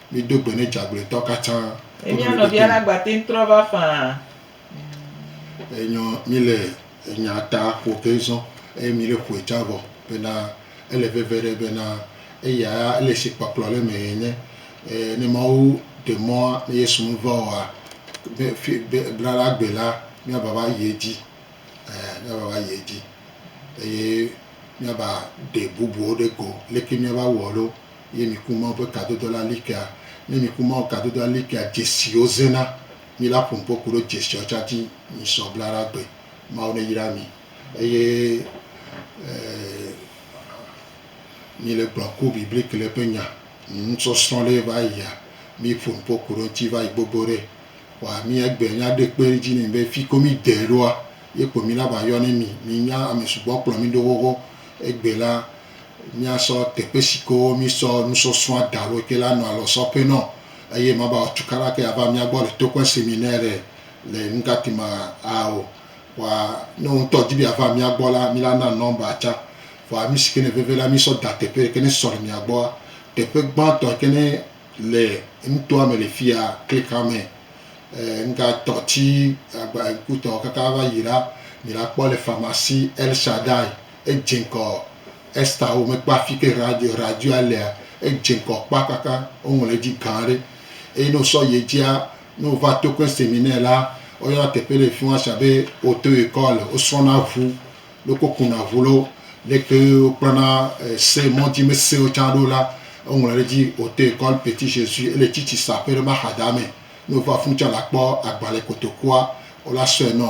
Mido gbe ne djagblɔetɔ katã. Emia nɔvia la gba teŋ trɔ va faa. Enyɔ mi le enya ta ƒo ke zɔn eye mi le ƒoe tsã vɔ bena ele veve ɖe bena eya ya ele si kpɔkplɔ le me enye. E ne Mawu ɖe mɔ ne Yesu me va oa be fi be bla la gbe la mia va va yi edzi e mia va va yi edzi eye mia ba ɖe bubuwo ɖe go leke mia va wɔ lo. Ye miku Mawu ƒe kadodo la likea? Ne miku Mawu kadodoa likea, dzesiwo zẽna. Mi la ƒo ŋkɔ ku ɖo dzesiawo tsã dzi misɔ bla ɖa gbe. Mawu ne yra mi. Eye mi le gblɔ ku bibliki le ƒe nya nusɔsrɔ̃ ɖe va yia, mi ƒo ŋkɔ ku ɖo ŋuti va yi gbogbo ɖe. Kpɔa mi egbea nya ɖe kpe dzi ne mi be fi ko mi dee ɖoa, ye kpo mi la va yɔ ne mi. Mi nya ame sugbɔ kplɔ mi ɖo xoxo. Egbe la Míasɔ teƒe si ke mísɔ nusɔsrɔ̃a da ɖo ke la nɔ alɔ sɔ ƒe nɔ eye mava wɔ tukaɖa ke ava mía gbɔ le toƒe si mi nɛ ɖe le nugati ma a o. Vɔa ne wò ŋutɔ di be yeava mía gbɔ la, mi la na nɔmba tsã. Vɔa nu si ke ne veve la mísɔ da teƒe yi ke ne sɔ le mia gbɔa. Teƒe gbãtɔ yi ke ne le nutoa me le fiya klik xa me e nugatɔ ti agba ŋkutɔ kaka va yi la mi la kpɔ le famasi El Shaddai. Edze ŋkɔ Ester wo mekpɔ afi ke radio o. Radioa lea, edze ŋkɔ kpa kaka woŋlɔ edzi gã aɖe. Eye ne wosɔ yi edzia, ne wova token seminaire la, woyɔna teƒe le fi ma sia be auto ecole. Wosrɔ̃na ŋu, ne wokɔ kuna ŋu lɔ, leke wokpɔna se mɔ dzi me sewo tsã ɖo la, woŋlɔ ɖe edzi auto ecole petit Jesus. Ele tsitsi saƒe ɖe ma xadame. Ne wova funu tsã la kpɔ agbale kotokua wo la sɔe nɔ.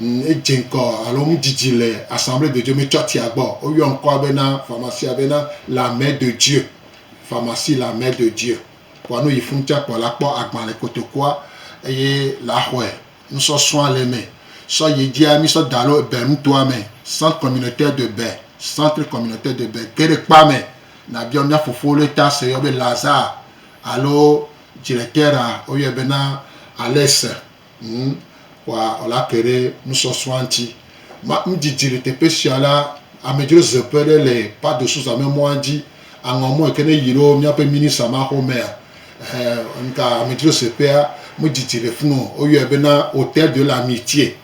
Edze ŋkɔ alo nu didi le Assemblée de Dieu, metsɔtia gbɔ o. Woyɔ ŋkɔa bena, pharmacie-a bena La Mère de Dieu, Pharmacie La Mère de Dieu. Vɔa ne wòyi funu tsã kpɔa, la kpɔ agbalẽ kotokua eye la xɔe. Nusɔsrɔ̃a le eme. Sɔ yi edzia, mí sɔ da ɖo Bɛ nutoa me, Centre Communautaire de Bɛ, Centre Communautaire de Bɛ. Ge ɖe kpea me nàbiɔ mía fofo ɖe ta si woyɔ be Lazare alo Directeur-a, woyɔe bena Alex. Ŋu kɔa la ke ɖe nusɔsrɔ̃a ŋuti. Ma nudzidzi le teƒe sia la, amedzrozeƒe ɖe le Pardo Sousa me mɔa dzi. Aŋɔ mɔ yike ne yi ɖo míaƒe minisa ma xɔmea, eh, ŋka amedzrozeƒea me dzidzi le funu o. Woyɔe be na Hotel de la Mitie.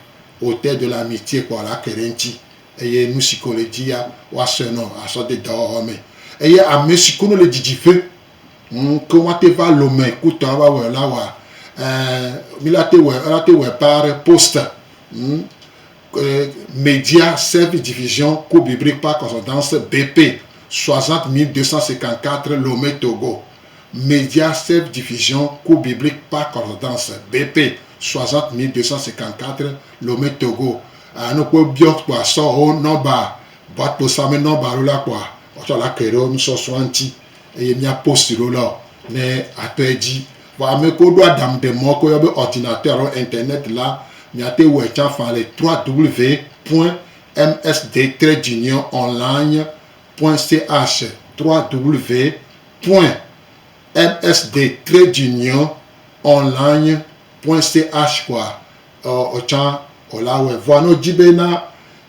Hotel de la Mitie kɔa la ke ɖe eŋuti eye nusike wòle dzi ya, woasɔe nɔ asɔ de dɔwɔwɔ me. Eye amesiko ne le dzidzi ƒe. Ŋ, ke woate va lome kutɔ ava wɔe la wa, ɛ, mi la te wɔe, ela te wɔe paa ɖe poster, ŋ, ɛ, Media Service Division Cobibri Park Consultance BP 60254 Lomé Togo, Media Service Division Cobibri Park Consultance BP 60254 Lomé Togo, a, ne wokpɔe biɔ kpɔa sɔho nɔba, boite kpo same nɔba alo la kpɔa, woatsɔ la ke ɖe wo nusɔsrɔ̃a ŋuti. eye mía post ɖo lɔ ne atɔ edzi vɔ ame ko ɖo adam ɖe mɔ ko yɔ be ordinateur alo internet la miate wɔ etsa fa le www.msd-junior-online.ch www.msd-junior-online.ch kɔa ɔ ɔtsa ɔ la wɛ vɔa ne wodzi be na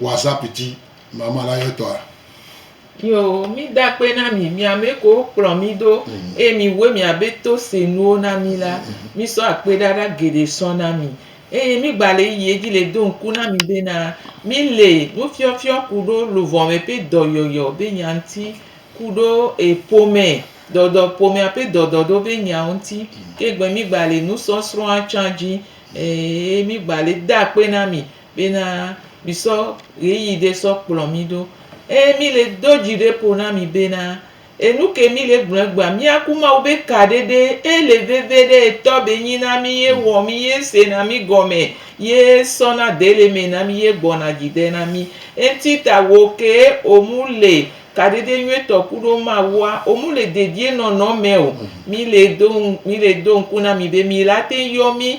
WhatsApp dzi mama la yɔ tɔa. Yo, mi da kpe na mi, mi ame ko wo kplɔ mi ɖo, mm. eye mi wue mi abe to se nuwo na mi la, mm. mi sɔ akpe ɖaɖa geɖe sɔ na mi. Eye mi gba le yiyi edzi le do ŋku na mi bena, mi le nufiɔfiɔ kuɖo luvɔme ƒe dɔyɔyɔ be nya ŋuti kuɖo e ƒome dɔdɔ ƒomea ƒe dɔdɔ ɖo be nyawo ŋuti. Ke gbe mi gba le nusɔsrɔ̃a tsã dzi, e mi gba le da kpe na mi. Bena misɔ ɣeyiɣi ɖe sɔ kplɔ mi ɖo. Eye mile do dzi ɖe ƒo na mi bena, enuke mile gblɔ egbea, miaku Mawu be ka ɖe ɖe ele veve ɖe etɔ be nyi na mi ye wɔ mi ye se na mi gɔme ye sɔ na de le me na mi ye gbɔna dzi de na mi. Enti ta wo ke o mu le ka ɖe ɖe nyuie tɔ kuɖo Mawua, o mu le dedie nɔnɔ me o. Mile do, mile do ŋku na mi be mila te yɔ mi.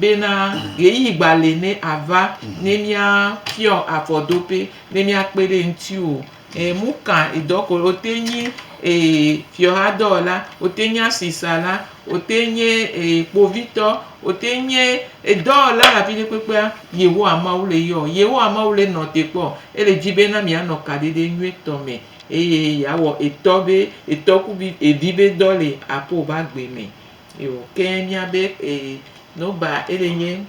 Bena ɣeyiɣi gba li ne ava ne mía fiɔ afɔdope ne mía kpe ɖe eŋuti o. E mu ka edɔ ko wo te nyi e fiɔha dɔwɔla, wo te nyi asisala, wo te nyi e kpovitɔ, wo te nyi edɔwɔla le afi ɖe kpekpea, Yehowa Mawu le yɔ. Yehowa Mawu le nɔ te kpɔ. Ele di bena mía nɔ kaɖiɖe nyuie tɔ me eye yea wɔ etɔ be etɔ ku vi evi be dɔ le aƒe wò be agbe me. Yo ke mia be eh, no ba ele nye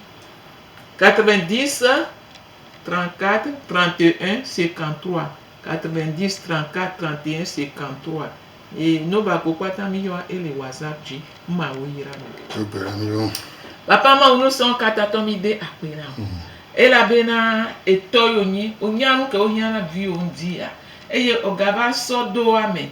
90 34 31 53 90 34 31 53 ye no ba ko kpata mi yɔ ele whatsapp dzi ma wo yira mi. Egbe na mi wo. Papa ma wo no sɔn kata tɔ mi de akpe na wo. Mm. Ela be na etɔ yo nyi o nya nu ke wo hiã na vi yo ndi ya. Eye o gaba sɔ do ame